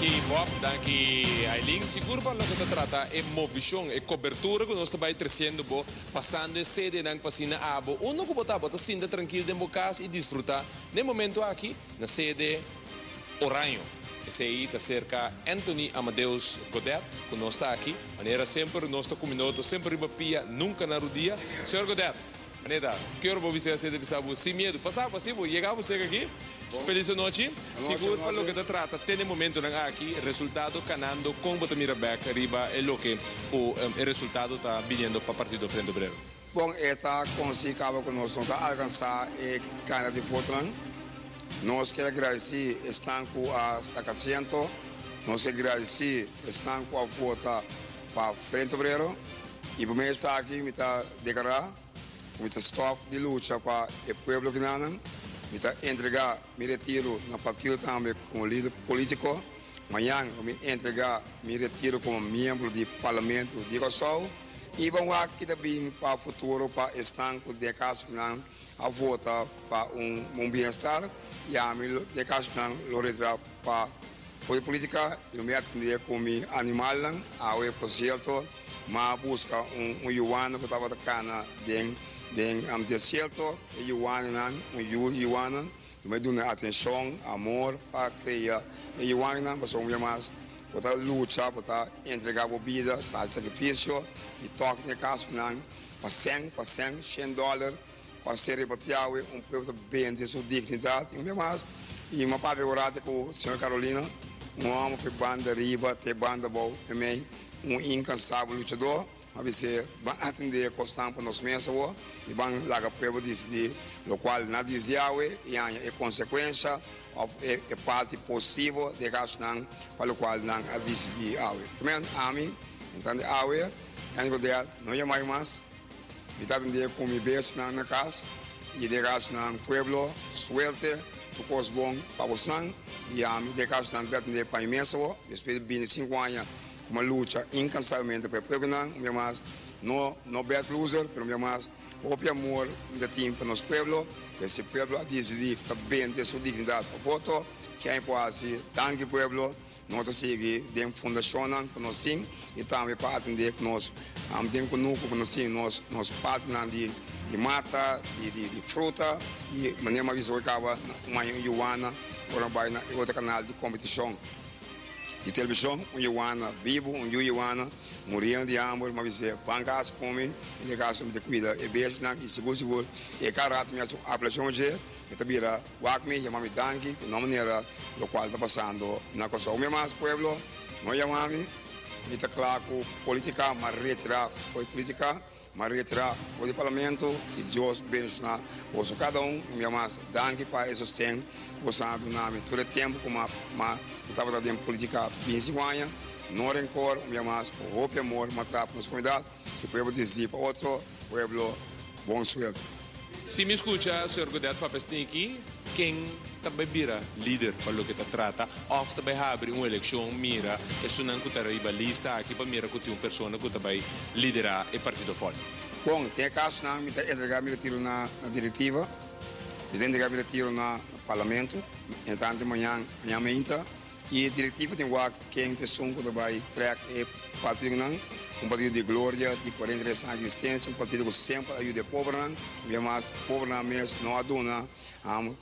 Danki Bob, danki Ailin. Sigur pa loke ta trata e movishon, e kobertura ku nos ta bai tresiendo bo pasando e CDnan pa si na abo unda ku bo ta, bo ta sinta trankil den bo kas i disfruta den momentu aki na CD Oraño. Esei ta serka Anthony Amadeus Godet ku nos ta aki. Manera semper nos ta ku mi no ta semper riba pia nunka na rudia. Señor Godet. Aneta, Ke ora bo bisa e asete bisa bo sin miedu? Pasa bo así, bo yega bo sega aki. Felis di nochi. Sigur pa loke ta trata tene momentonan aki, resultado kanando kon bo ta mira bek riba e loke ku e resultado ta biniendo pa Partido Frente Obrero? Bon, e ta konsí kaba ku nos no ta alkansá e kantidad di fotonan. Nos ke gradisí esnan ku a saka asiento. Nos ke gradisí esnan ku a vota Pa frente obrero y prome esaki mi ta declara cu mi ta stop di lucha pa e pueblo kinanan, mi ta entrega mi retiro na partido tambe como lider politico, mañan lo mi entrega mi retiro como miembro di Parlamento di Kòrsou y ban wak ki ta bin pa futuro pa esnan cu dkashnan a vota pa un buen bienestar y ami dkashnan lo retra pa Fo'i politica y no mea tende cu mi animalnan awe e concierto ma a busca un un yuana cu tabata cana den den am desierto e yuaninan un yu yuana no mea dun'e atencion amor pa crea e yuaninan pasobra un bia mas bo ta lucha bo ta entrega bo bida sa sacrificio y tok den e casonan pa cen pa cen cen dollar pa ser riba ta Yahweh, un pueblo ta bende su dignidad y un bes mas y m'a papia orante cu Señor Carolina, un homber fe banda riba te banda bao, pa mi un incansable luchador, m'a bis'e, Ban atende cosnan pa nos mesa awo y ban laga pueblo dicidi locual na dice Yahweh y haña e consecuencia of e parti posivo di e cashnan pa locual nan a dicidi awe. Amen, Ami, entande awe, Andy Goedel, no yamai mas. Mi ta bendie cu mi besnan na cas y de casnan pueblo, suerte, tur cos bon pa bosnan, y ami de casnan ta bendie pa mi mes awo, despues di bini cinco aña cu m'ha lucha incansablemente pa e pueblonan, un bia mas, no, no bad loser, pero un bia mas, hopi amor mi ta tin pa nos pueblo, pues si pueblo a dicidi cu ta bende su dignidad pa voto, kiain por haci, danki pueblo. Nos ta sigui den fundashonnan ku nos tin i tambe pa atendé ku nos den kunuku ku nos tin nos nos patinan di di mata, di di di fruta i manera mi a bisa hoy kaba un aña un yuana ora no bai na e otro kanal di kompetishon di televishon un yuana bibu un yu yuana muriendo di hamber mi a bisa ban kas kumi i den kas mi ta kuida e besnan i sigur sigur e ka rato mi hasi un apelashon dje mi ta bira. Wak mi yama mi danki ku no manera lokual ta pasando na Kòrsou mi amas pueblo no yama mi mi ta kla ku politika m'a retirá fo'i politika m'a retirá fo'i di parlamento ki Dios benshoná boso kada un mi amas danki pa e sosten ku boso a duna mi tur e tempu ku m'a mi tabata den politika binsi ku aña no renkor mi amas ku hopi amor m'a tra pa nos komunidat. Si pueblo disdi pa otro pueblo, bon suelta. Si mi scucha Señor Godet papia sneaky, ken ta bay bira lider pa loke ta trata of ta bay habri un eleccion mira esunnan cu ta riba lista aki pa mira cu tin un persona cu ta bay lidera e partido fort. Bon, ten e casonan mi ta entrega mi retiro na directiva, mi ta entrega mi retiro na Parlamento, entante mañan, mañan mainta, Y e directivo tin wak ken ta esun cu ta bay track e patriotnan, un patriota di gloria, di cuarenta y tres aña di existencia, un patriota cu semper a yuda e pobernan, mira mas pobernan mes no a duna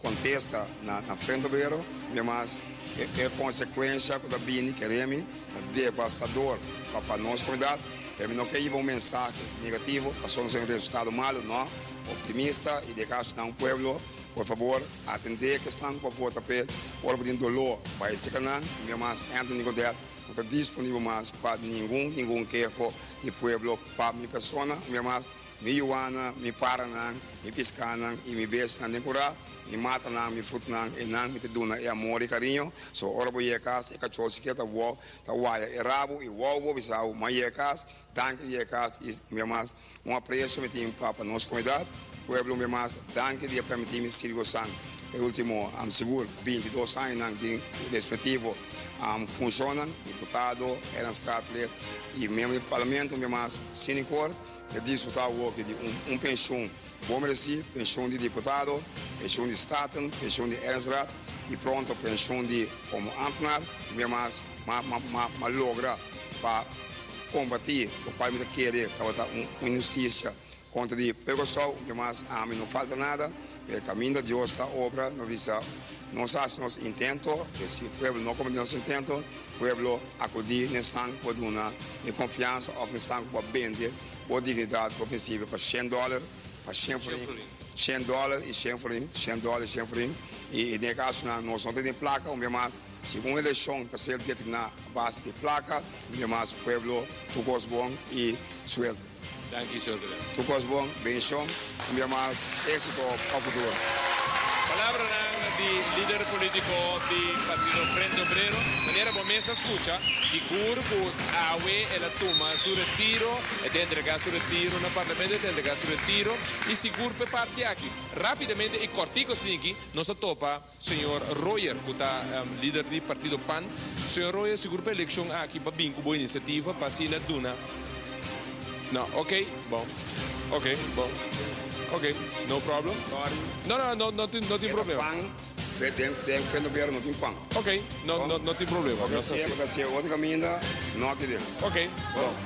contesta na na frente obrero, mira mas e e consecuencia cu ta bini keremi ta devastador pa pa nos comunidad, pero mi no ke yiba un mensahe negativo pasobra nos ta den un resultado malo, no, optimista y di e caso nan pueblo por fabor. Atendé e kesnan ku por vota p'e korpu den doló. Pa e sika nan, Primer Mas Anthony Godet no ta disponibel mas pa ningun ningun keho di pueblo pa mi persona, Primer Mas, mi yuanan, mi para nan, mi piská nan i mi besti nan den kurá, mi mata nan, mi fruta nan, e nan mi ta duna e amor i kariño. So, ora bo yega kas, e kachó sikier ta wou, ta waya e rabu i wou bo bisau, M'a yega kas, danki di yega kas i, Primer Mas, Un aprecio mi tin pa pa nos comunidad, pueblo mi mas danki di a permiti mi sirbi osan pa e ultimo am sigur binti dos añonan den e respectivo am funcionnan, diputado Eranstraatlid y miembro di Parlamento mi mas sinikor mi a disfruta awoki di un un pensioen bon mereci, pensioen di diputado, pensioen di Staten, pensioen di Eranstraat y pronto pensioen di como ambtenaar mi mas ma ma ma logra pa. Kombatí lo kual mi ta kere tabata un inhustisha kontra di Pueblo Sou, un ke mas ami no falta nada, pero e kaminda Dios ta obra no bisa nos a hasi nos intento, pero si e pueblo no kombatí nos intento, pueblo akudí nesnan ku a duna e konfiansa òf nesnan ku a bende bo dignidat, bo prinsipio pa shen dòler, pa shen florin, shen dòler i shen florin, shen dòler i shen florin, i den e kasonan nos no ta tin plaka un ke mas. Si un elekshon ta ser determiná a base di plaka, un dia mas pueblo tukos bon i suerte. Danki Señor Belén. Tukos bon, benishon, un dia mas éksito pa futuro. Palabranan di lider polítiko di partido Frente Obrero. Manera bo mes a skucha, sigur ku awe el a tuma su retiro, e ta entregá su retiro na parlamento, e ta entregá su retiro, i sigur p'e parti aki, rápidamente i kòrtiku asina aki nos a topa, Señor Royer cu ta lider di partido pan. Señor Royer sigur pa eleccion aki pa bin cu bo iniciativa pa asina duna No ok bon ok bon ok no problem Sorry No no no no tin no tin problema. Eba pan be den den fe no bero no tin pan. Ok no no no tin problema nos ta haci. Bo ta haci bo ta haci otro caminda no aki den. Ok bon.